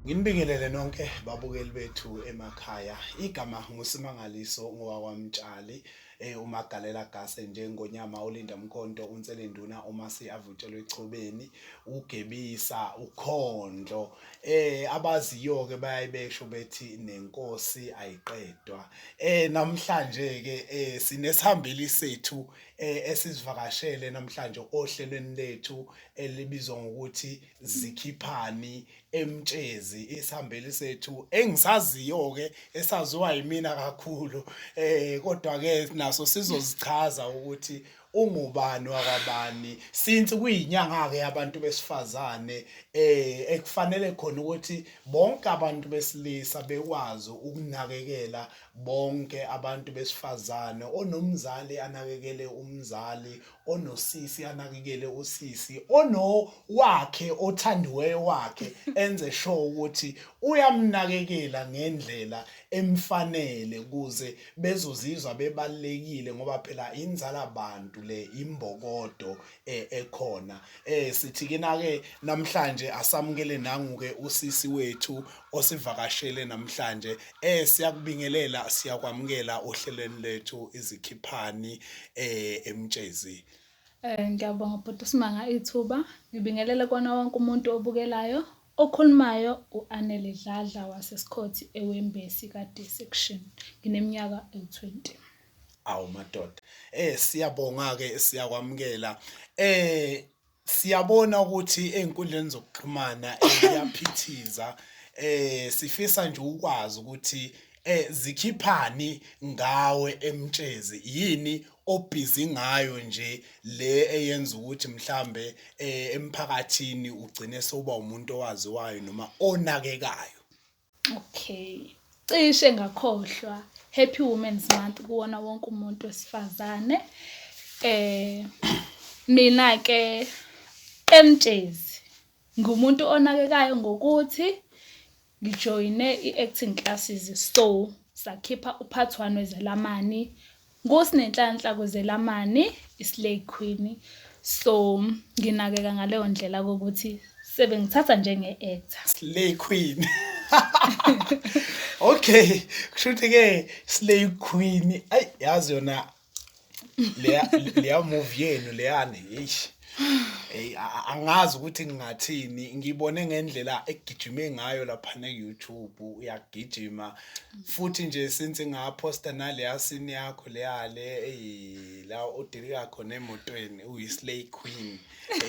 Nginibingelele nonke babukeli bethu emakhaya. Igama nguSimangaliso ngowakwamtshali. e uMagalela Gase njengoNyama, uLinda Mkhonto, uNselenduna, uMasi avutshelwe echobeni, uGebisa, uKhondlo. Eh abaziyo ke bayayibesho bethi nenkosi ayiqedwa. Eh namhlanje ke eh sinesihambeli sethu eh esizivakashele namhlanje ohlelweni lethu elibizwa ngokuthi zikhiphani eMtshezi isihambeli sethu engisaziyo-ke esaziwa yimina kakhulu um kodwa-ke naso sizozichaza ukuthi ungubani wakwabani since kuyinyanga-ke yabantu besifazane um ekufanele khona ukuthi bonke abantu besilisa bekwazi ukunakekela bonke abantu besifazane onomzali anakekele umzali onosisi anakekele usisi ono wakhe othandiweyo wakhe enze sure ukuthi uyamnakekela ngendlela emfanele kuze bezozizwa bebalekile ngoba phela inzala abantu le imbokodo eh, ekhona eh sithi kina ke namhlanje asamukele nangu ke usisi wethu osivakashele namhlanje eh siyakubingelela siyakwamukela ohlelweni lethu izikhiphani eh emtshezi Eh ngiyabonga bhuti Simanga ithuba ngibingelele kona wonke umuntu obukelayo okhulumayo uAnele Dladla waseSikhothi eWembesi kade section ngineminyaka ewu20 awu madoda eh siyabonga ke siyakwamukela eh Siyabona ukuthi ey'nkundleni zokuxhumana ziyaphithiza um sifisa nje ukwazi ukuthi um zikhiphani ngawe emtshezi yini obhizi ngayo nje le eyenza ukuthi mhlambe um emphakathini ugcine sewuba umuntu owaziwayo noma onakekayo. Okay. Cishe ngakhohlwa. Happy Women's Month kuwona wonke umuntu wesifazane. Eh mina ke emtshezi ngumuntu onakekayo ngokuthi ngijoyine i-acting classes so sakhipha uphathi one wezelamani NguSinenhlanhla Kuzelamani, iSlay Queen. So nginakeka ngaleyo ndlela kokuthi sebengithatha njenge-actor. Slay Queen. okay, kusho ukuthi ke Slay Queen. Ay yazi yona leya leya movie yenu leyani. Eish. Hey angazi ukuthi ngingathini ngibone ngendlela egijime ngayo lapha ne YouTube uyagijima futhi nje since ngaposta nale yasini yakho leyale hey la udilika khona emotweni uyislay queen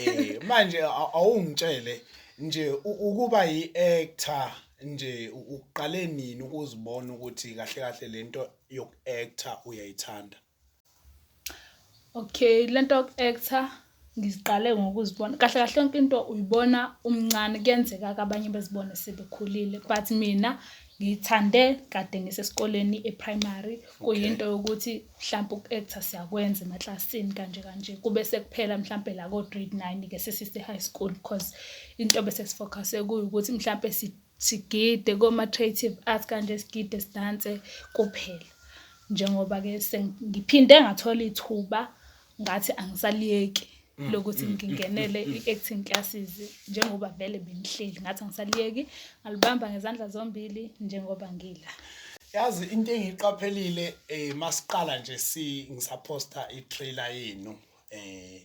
eh manje awungitshele nje ukuba yi actor nje uqale nini ukuzibona ukuthi kahle kahle lento yoku actor uyayithanda Okay, le nto yoku-aktha ngiziqale ngokuzibona, kahle kahle yonke into uyibona umncane kuyenzeka-ke abanye bezibone sebekhulile but mina ngiyithande kade ngisesikoleni e-primary. Kuyinto yokuthi mhlampe uku-aktha siyakwenza emaklasini kanje kanje. Kube sekuphela mhlampe la ko-grade nine-ke sesise-high school cause into bese si-focus-e kuyo ukuthi mhlampe . sigide koma-creative arts kanje sigide sidanse kuphela njengoba-ke sengiphinde ngathola ithuba ngathi angisaliyeki mm, lokuthi mm, ngingenele mm, i-acting classes njengoba vele bengihleli ngathi angisaliyeki ngalibamba ngezandla zombili njengoba ngila yazi into engiqaphelile eh masiqala nje si ngisaphosta i-trailer yenu eh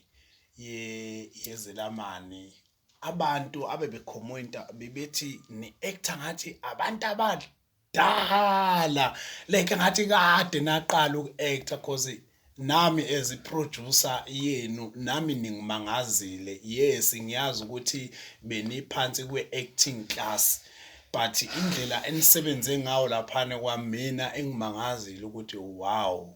ye yezelamani abantu abebekhomenta bebethi ni-actor ngathi abantu abadala like ngathi kade naqala uku-actor cause nami as i-producer yenu nami ningimangazile yes ngiyazi ukuthi beniphansi kwe-acting class but indlela enisebenze ngawo laphana kwamina engimangazile ukuthi wow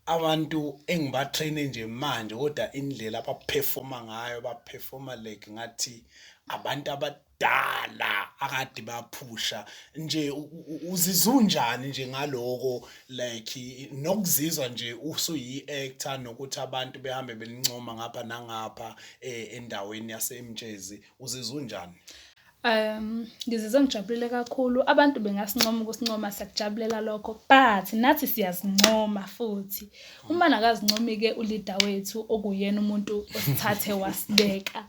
Abantu engibatraine nje manje kodwa indlela abaperforma ngayo baperforma like ngathi abantu abadala akade baphusha nje uzizwa unjani nje ngaloko like nokuzizwa nje usuyi-actor nokuthi abantu behambe belincoma ngapha nangapha eh, endaweni yasemtshezi uzizwa unjani Um, ngizizwe ngijabulile kakhulu. Abantu bengasincoma ukusincoma, siyakujabulela lokho. But nathi siyazincoma futhi. Uma nakazincomike uleader wethu okuyena umuntu osithathe wasibeka.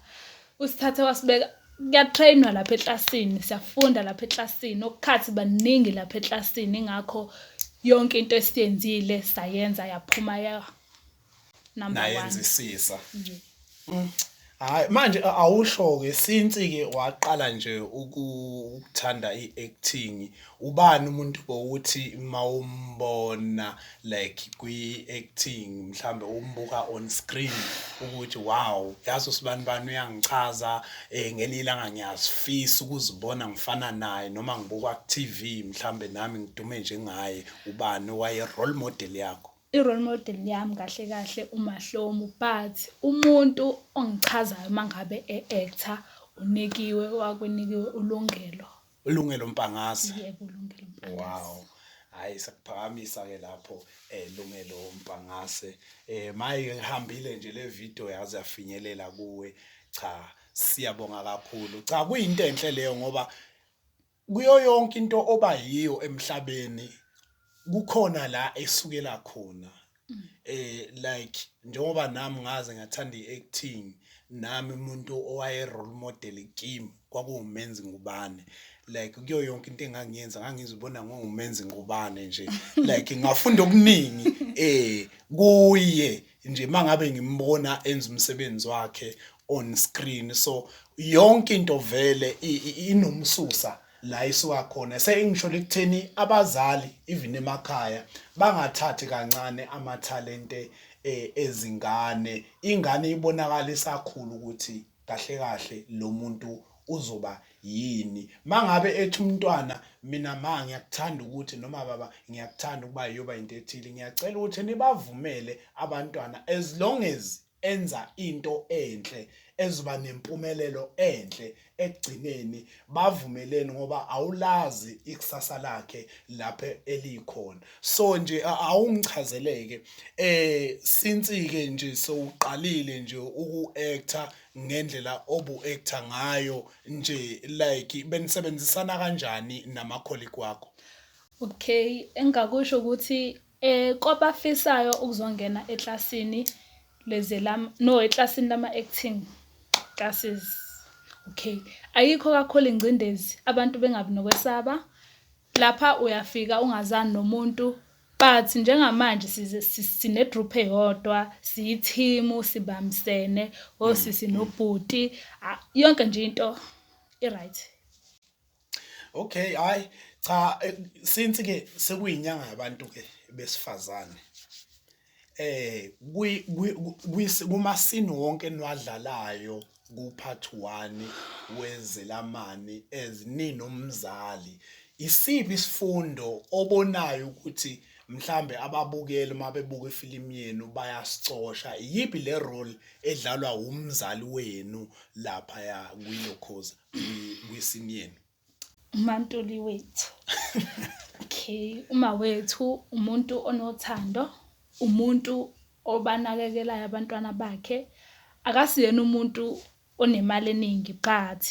Usithathe wasibeka kuyatrainwa lapha eklasini, siyafunda lapha eklasini. Okukhathi baningi lapha eklasini ingakho yonke into esiyenzile sayenza yaphuma ya. number 1 nayenzisisa mm. hayi manje awusho ke since ke waqala nje ukuthanda iacting ubani umuntu bowuthi mawumbona like kwiacting mhlambe umbuka on screen ukuthi wow yazi usibani bani uyangichaza eh ngelila ngangiyazifisa ukuzibona ngifana naye noma ngibuka ku TV mhlambe nami ngidume njengaye ubani waye role model yakho I-role model yami kahle kahle uMahlomu but umuntu ongichazayo uma ngabe e-actor uNikiwe wakweNikiwe uLungelo. ULungelo Mpangase? Yebo, uLungelo Mpangase. Wow. Hhayi sakuphakamisa-ke lapho eh Lungelo Mpangase. Eh maye ihambile nje le video yaze yafinyelela kuwe. Cha siyabonga kakhulu. Cha kuyinto enhle leyo ngoba Kuyo yonke into oba yiyo emhlabeni kukhona la esukela khona mm. eh like njengoba nami ngaze ngathanda iacting nami umuntu owaye role model kimi kwakuwumenzi ngubane like kuyo yonke into engangiyenza ngangizibona ngongumenzi ngubane nje like ngafunda okuningi eh kuye nje mangabe ngimbona enza umsebenzi wakhe on screen so yonke into vele inomsusa la isuka khona sengisho lekutheni abazali even emakhaya bangathathi kancane amathalente eh, ezingane ingane ibonakala isakhulu ukuthi kahle kahle lo muntu uzoba yini mangabe ethi umntwana mina ma ngiyakuthanda ukuthi noma baba ngiyakuthanda ukuba yoba into ethile ngiyacela ukuthi nibavumele abantwana as long as enza into enhle ezoba nempumelelo enhle ekugcineni bavumeleni ngoba awulazi ikusasa lakhe lapho elikhona so nje awungichazeleke eh since ke nje sowuqalile nje uku-actor ngendlela obu-actor ngayo nje like benisebenzisana kanjani nama-colleague wakho Okay, engakusho ukuthi Eh kwabafisayo ukuzongena eklasini lezelam no eklasini lama acting classes. Okay ayikho kakhulu ingcindezi abantu bengabi nokwesaba lapha uyafika ungazani nomuntu but njengamanje sine group eyodwa siyi team sibambisene osisi nobhuti yonke nje into i-right. Okay, hayi cha eh, since ke sekuyinyanga yabantu ke besifazane. Eh kwi kumasini wonke enwadlalayo kuphathi 1 wezelamani ezinini umzali. Isiphi isifundo obonayo ukuthi mhlambe ababukeli uma bebuka ifilimu yenu bayasicosha iyiphi le role edlalwa umzali wenu lapha ya kwilokhoza wesimyeni umantuli wethu okay uma wethu umuntu onothando umuntu obanakekelayo abantwana bakhe akasiyena umuntu onemali eningi but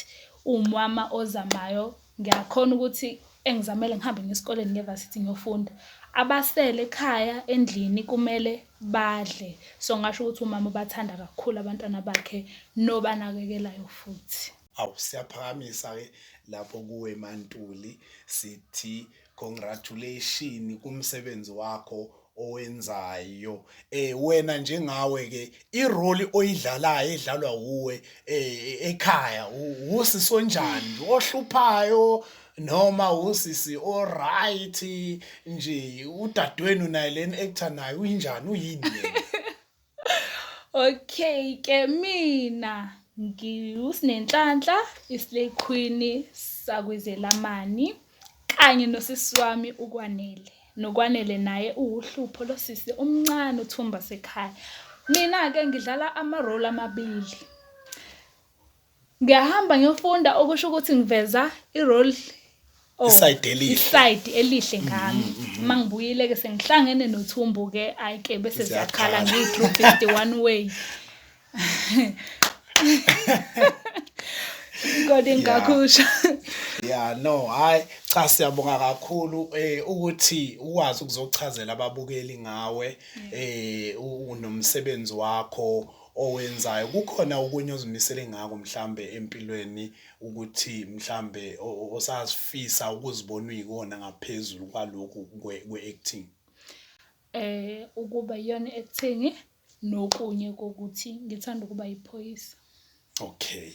uwumama ozamayo ngiyakhona ukuthi engizamele ngihambe ngesikoleni ngevasithi ngiyofunda abasele ekhaya endlini kumele badle so ngasho ukuthi umama ubathanda kakhulu abantwana bakhe nobanakekelayo futhi awu siyaphakamisa-ke lapho kuwe mantuli sithi congratulation kumsebenzi wakho owenzayo eh wena njengawe ke irole oyidlalayo edlalwa uwe eh, ekhaya usisi onjani ohluphayo noma usisi oright nje udadewenu naye leni actor naye uyinjani uyini yena Okay ke mina ngiwuSinenhlanhla iSlay Queen sakwizelamani kanye nosisi wami uKwanele. NoKwanele naye uwuhlupho lo sisi umncane uthumba sekhaya. Mina-ke ngidlala ama-role amabili. Ngiyahamba ngiyofunda okusho ukuthi ngiveza i-role oh, isayidi elihle isayidi elihle mm-hmm, ngami mm-hmm. uma ngibuyile-ke sengihlangene nothumbu-ke ayike bese ziyakhala ngiyi-true fifty one way kodwa engakusho ya no hayi cha siyabonga kakhulu eh ukuthi ukwazi ukuzochazela ababukeli ngawe eh unomsebenzi wakho owenzayo kukhona okunye ozimisele ngako mhlambe empilweni ukuthi mhlambe osazifisa ukuzibona uyikona ngaphezulu kwalokhu kwe-acting eh ukuba yona acting nokunye kokuthi ngithanda ukuba yiphoyisa okay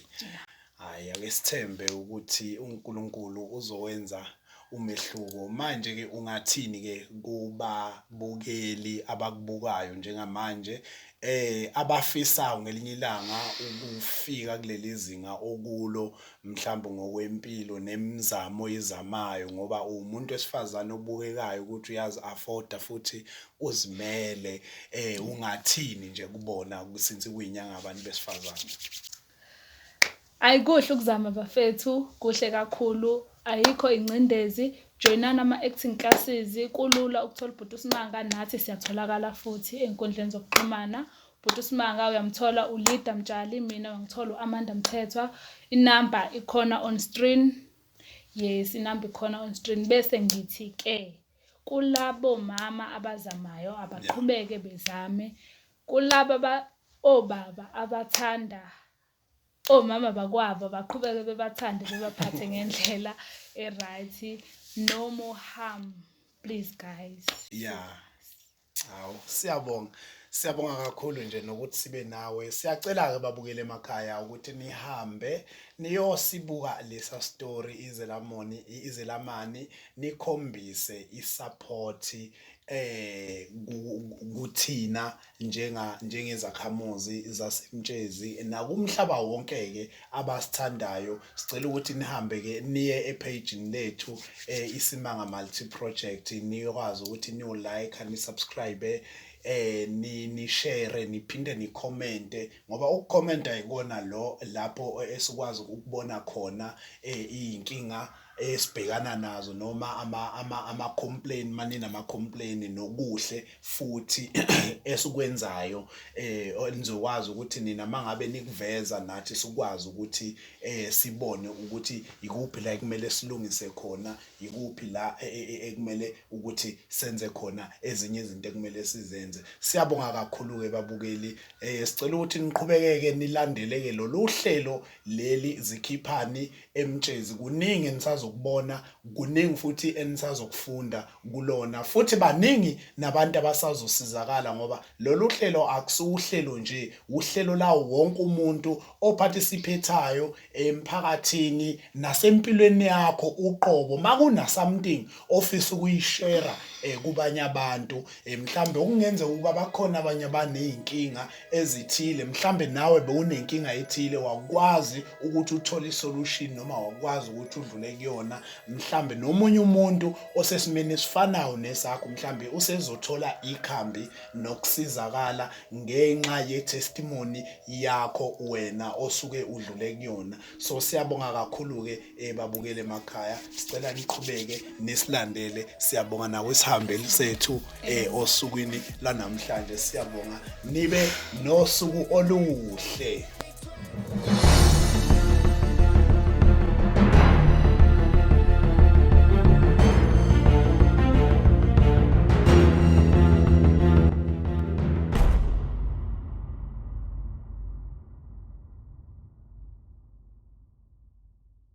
Hhayi, ake sithembe ukuthi uNkulunkulu uzowenza umehluko. Manje-ke ungathini-ke kubabukeli abakubukayo njengamanje um abafisayo ngelinye ilanga ukufika kuleli zinga okulo mhlawumbe ngokwempilo nemizamo oyizamayo ngoba uwumuntu wesifazane obukekayo ukuthi uyazi-afoda futhi uzimele. Ungathini nje kubona since kuyinyanga yabantu besifazane? Ayi kuhle ukuzama bafethu, kuhle kakhulu. Ayikho ingcindezi, joyinani ama-acting classes. Kulula ukuthola ubhuti uSmanga, nathi siyatholakala futhi ey'nkundleni zokuxhumana. Ubhuti uSmanga uyamthola uLida Mtshali, mina uyangithola u-Amanda Mthethwa. Inamba ikhona on screen. Yes, inamba ikhona on screen. Bese ngithi-ke kulabo mama abazamayo abaqhubeke bezame. Kulaba obaba abathanda omama bakwabo baqhubeke bebathande bebaphathe ngendlela e-right no more harm please guys yeah hawu siyabonga Siyabonga kakhulu nje nokuthi sibe nawe. Siyacela-ke babukele emakhaya ukuthi nihambe niyosibuka lesa story izelamoni izelamani nikhombise isaphothi kuthina njengezakhamuzi zaseMtshezi nakumhlaba wonke-ke abasithandayo. Sicela ukuthi nihambe-ke niye ephejini lethu iSimanga Multi Project nikwazi ukuthi niyo-like-a, ni-subscribe-e nishere niphinde nikhomente ngoba ukukhomenta yikona lo lapho esikwazi ukubona khona iy'nkinga. esibhekana nazo noma ama ama ama complain mani nama complain nokuhle futhi esikwenzayo eh nizokwazi ukuthi nina mangabe nikuveza nathi sikwazi ukuthi eh sibone ukuthi ikuphi la kumele silungise khona ikuphi la e, e, e, ekumele ukuthi senze khona ezinye izinto ekumele sizenze siyabonga kakhulu ke babukeli eh sicela ukuthi niqhubekeke nilandeleke lolu hlelo leli zikhiphani eMtshezi kuningi enisazokubona kuningi futhi enisazokufunda kulona futhi baningi nabantu abasazosizakala ngoba lolu hlelo akusiwuhlelo nje uhlelo lawo wonke umuntu ophatisiphethayo emphakathini nasempilweni yakho uqobo makunasomething ofisa ukuyishera eh, kubanye abantu eh, mhlambe okungenza ukuba bakhona abanye abanezinkinga ezithile mhlambe nawe bewunenkinga ethile wakwazi ukuthi uthole isolution noma wakwazi ukuthi udlule kuyona mhlambe nomunye umuntu osesimeni esifanayo nesakho mhlambe usezothola ikhambi nokusizakala ngenxa yetestimony yakho wena osuke udlule kuyona so siyabonga kakhulu ke ebabukele emakhaya sicela niqhubeke nisilandele siyabonga nawe sihambeli sethu eh osukwini lanamhlanje siyabonga nibe nosuku oluhle